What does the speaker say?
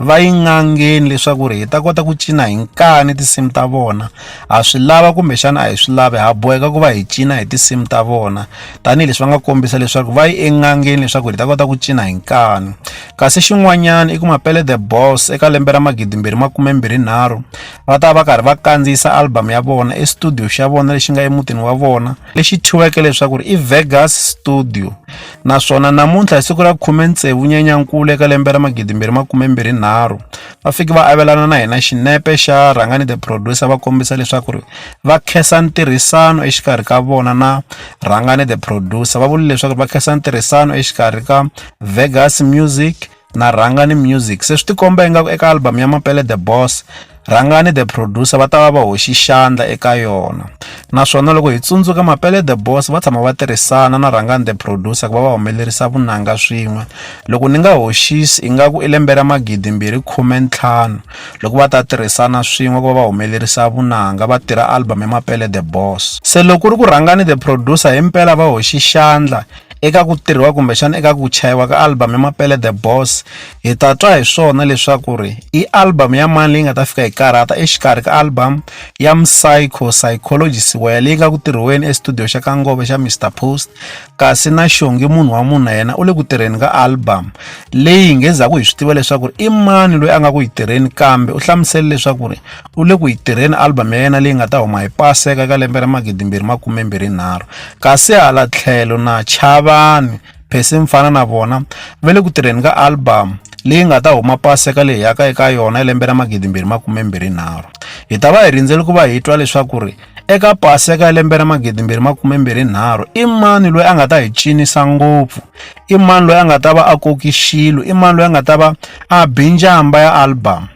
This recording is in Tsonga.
va yi n'angeni leswaku ri hi ta kota ku cina hi nkani tinsimu ta vona ha swi lava kumbexana a hi swi lavi ha boheka ku va hi cina hi tinsimu ta vona tanihileswi va nga kombisa leswaku va yi en'angeni leswaku hi ta kota ku cina hi nkani kasi xin'wanyana i ku mapele the boss eka lembe ra magidimbirhi makumembirhinharhu va ta va karhi va kandziyisa album ya vona estudio xa vona lexi nga emutini wa vona lexi thyiweke leswaku i Vegas Studio naswona namuntlha hi siku ra 16 Nyenyankulu eka lembe ra 2023 va fiki va avelana na hina xinepe xa Rhangani the Producer va kombisa leswaku ri va khensa ntirhisano exikarhi ka vona na Rhangani the Producer va vule leswaku va khensa ntirhisano exikarhi ka Vegas Music na rhangani music se swi tikomba ingaku eka album ya mapele the boss rhangani the producer va ta va va hoxi xandla eka yona naswona loko hi tsundzuka mapele the boss va tshama va tirhisana na rhangani the producer ku va va humelerisa vunanga swin'we loko ni nga hoxisi ingaku i lembe ra magidi mbirhi khume ntlhanu loko va ta tirhisana swin'we ku va va humelerisa vunanga va tirha album ya mapele the boss se loko ku ri ku rhangani the producer himpela va hoxi xandla eka ku tirhiwa kumbexana eka ku chayiwa ka album ya mapele the boss hi ta twa hi swona leswaku ri i album ya mani leyi nga ta fika hi karhata exikarhi ka album ya psycho psychology siwaya leyi nga ku tirhiweni estudio xa ka ngove xa mr post kasi na xongi munhu wa munhu na yena u le ku tirheni ka album leyi hi ngezaku hi swi tiva leswaku ri i mani loyi a nga ku yi tirheni kambe u hlamusele leswaku ri u le ku yi tirheni album ya yena leyi nga ta huma hi paseka ka lembe ra magidimbirhi makumembirhi nharhu kasi hala tlhelo na chavani phesi mfana na vona va le ku tirheni ka album leyi nga ta huma paseka leyi yaka eka yona lembe ra magidimbirhi makumembirhi nharhu hi ta va hi rindzele ku va hi twa leswaku ri eka paseka ya lembe ra magidimbirhi makumembirhi nharhu i mani loyi a nga ta hi cinisa ngopfu i mani loyi a nga ta va a koki xilo i mani loyi a nga ta va a binjamba ya album